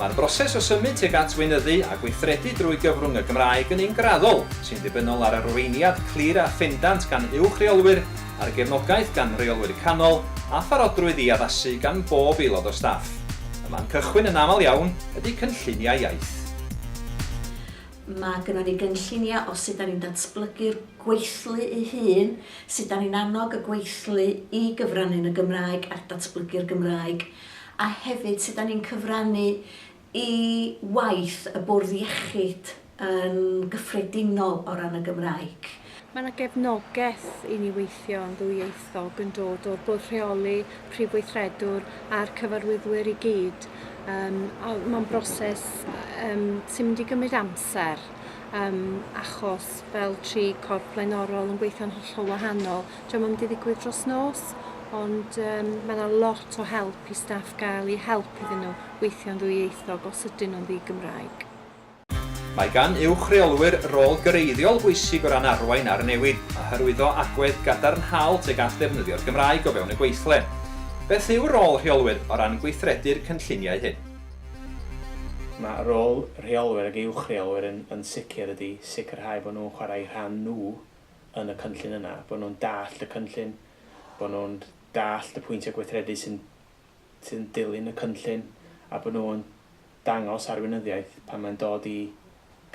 Mae'r broses o symud tuag at weinyddu a gweithredu drwy gyfrwng y Gymraeg yn un graddol, sy'n ddibynnol ar arweiniad clir a phendant gan uwch reolwyr, ar gefnogaeth gan reolwyr canol, a pharodrwydd i addasu gan bob aelod o staff. Y man cychwyn yn aml iawn ydy cynlluniau iaith. Mae gynnon ni gynlluniau o sut 'dan ni'n datblygu'r gweithlu ei hun. Sut 'da ni'n annog y gweithlu i gyfrannu yn y Gymraeg a datblygu'r Gymraeg, a hefyd sut 'da ni'n cyfrannu i waith y bwrdd iechyd yn gyffredinol o ran y Gymraeg. Mae 'na gefnogaeth i ni weithio yn ddwyieithog yn dod o'r bwrdd rheoli, prif weithredwr a'r cyfarwyddwyr i gyd, yym a mae'n broses yym sy'n mynd i gymryd amser. um, achos fel tri corff blaenorol yn gweithio'n hollol wahanol. Diolch yn mynd i ddigwydd dros nos, ond um, mae yna lot o help i staff gael eu help iddyn nhw weithio'n ddwyieithog os ydyn nhw'n ddi-Gymraeg. Mae gan uwch reolwyr rôl greiddiol bwysig o ran arwain ar y newid, a hyrwyddo agwedd gadarnhaol tuag at ddefnyddio'r Gymraeg o fewn y gweithle. Beth yw rôl rheolwyr o ran gweithredu'r cynlluniau hyn? Mae rôl rheolwyr ac uwch-reolwyr yn yn sicr ydy sicrhau bod nhw'n chwarae eu rhan nhw yn y cynllun yna, bod nhw'n dallt y cynllun, bod nhw'n dallt y pwyntiau gweithredu sy'n sydd yn dilyn y cynllun a bod nhw'n dangos arweinyddiaeth pan mae'n dod i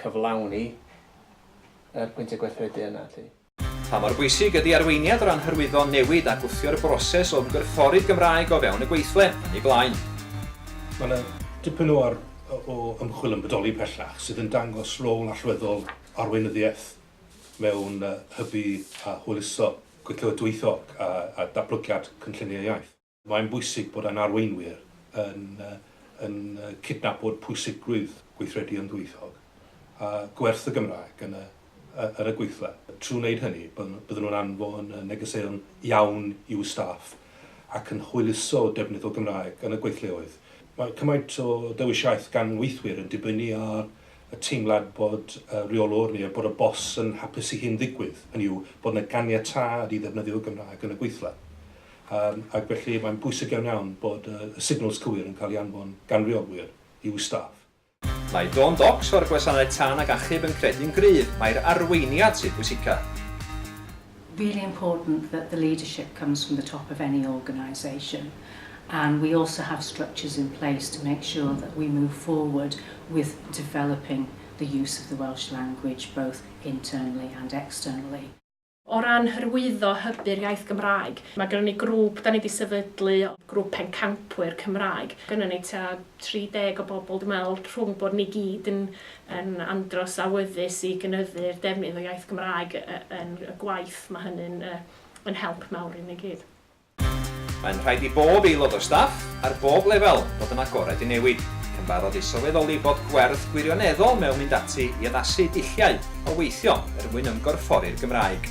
cyflawni yr pwyntiau gweithredu yna 'lly. Pa mor bwysig ydy arweiniad o ran hyrwyddo newid a gwthio'r broses o ymgorffori'r Gymraeg o fewn y gweithle yn ei blaen? Mae yna dipyn o o ymchwil yn bodoli pellach sydd yn dangos rôl allweddol arweinyddiaeth mewn hybu a hwyluso gweithle dwyieithog a a datblygiad cynlluniau iaith. Mae'n bwysig bod ein arweinwyr yn yn cydnabod pwysigrwydd gweithredu yn ddwyieithog a gwerth y Gymraeg yn y yn y gweithle. Trwy wneud hynny, bydden nhw'n anfon negeseuon iawn i'w staff ac yn hwyluso defnydd o Gymraeg yn y gweithleoedd. Mae cymaint o ddewisiaeth gan weithwyr yn dibynnu ar y teimlad bod y rheolwr neu bod y bos yn hapus i hyn ddigwydd, hynny yw, bod yna ganiatâd i ddefnyddio Gymraeg yn y gweithle. Yym, ac felly mae'n bwysig iawn iawn bod y y signals cywir yn cael ei anfon gan reolwyr i'w staff. Mae Dawn Docks o'r Gwasanaeth Tân ac Achub yn credu'n gryf mai'r arweiniad sydd bwysica. really important that the leadership comes from the top of any organisation and we also have structures in place to make sure that we move forward with developing the use of the Welsh language both internally and externally. O ran hyrwyddo hybu'r iaith Gymraeg, mae gynnon ni grŵp dan ni 'di sefydlu, grŵp pencampwyr Cymraeg. Gynnon ni tua 30 o bobl, dwi'n meddwl, rhwng bod ni gyd yn yn andros awyddus i gynyddu'r defnydd o iaith Gymraeg yn y gwaith, mae hynny'n yn help mawr i ni gyd. Mae'n rhaid i bob aelod o staff, ar bob lefel, fod yn agored i newid, ac yn barod i sylweddoli bod gwerth gwirioneddol mewn mynd ati i addasu dulliau o weithio er mwyn ymgorffori'r Gymraeg.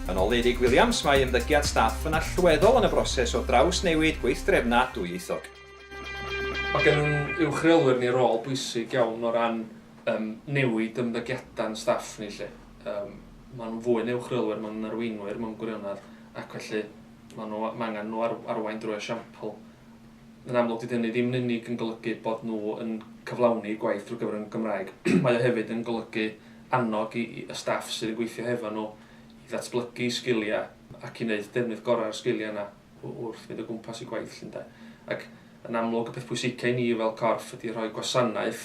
Yn ôl Eurig Williams, mae ymddygiad staff yn allweddol yn y broses o drawsnewid gweithdrefnau dwyieithog. Mae gennym uwch reolwyr ni rôl bwysig iawn o ran yym newid ymddygiadau'n staff ni 'lly. Yym maen nhw'n fwy na uwch reolwyr, maen nhw'n arweinwyr mewn gwirionedd. ac felly maen nhw, mae angen nhw ar, arwain drwy esiampl. Yn amlwg, dydy hynny ddim yn unig yn golygu bod nhw yn cyflawni gwaith drwy gyfer yn Gymraeg. mae o hefyd yn golygu annog i, i y staff sydd yn gweithio hefo nhw i ddatblygu sgiliau ac i wneud defnydd gorau o'r sgiliau yna wrth fynd o gwmpas i gwaith llundain. Ac yn amlwg, y peth pwysicau i ni fel corff ydy rhoi gwasanaeth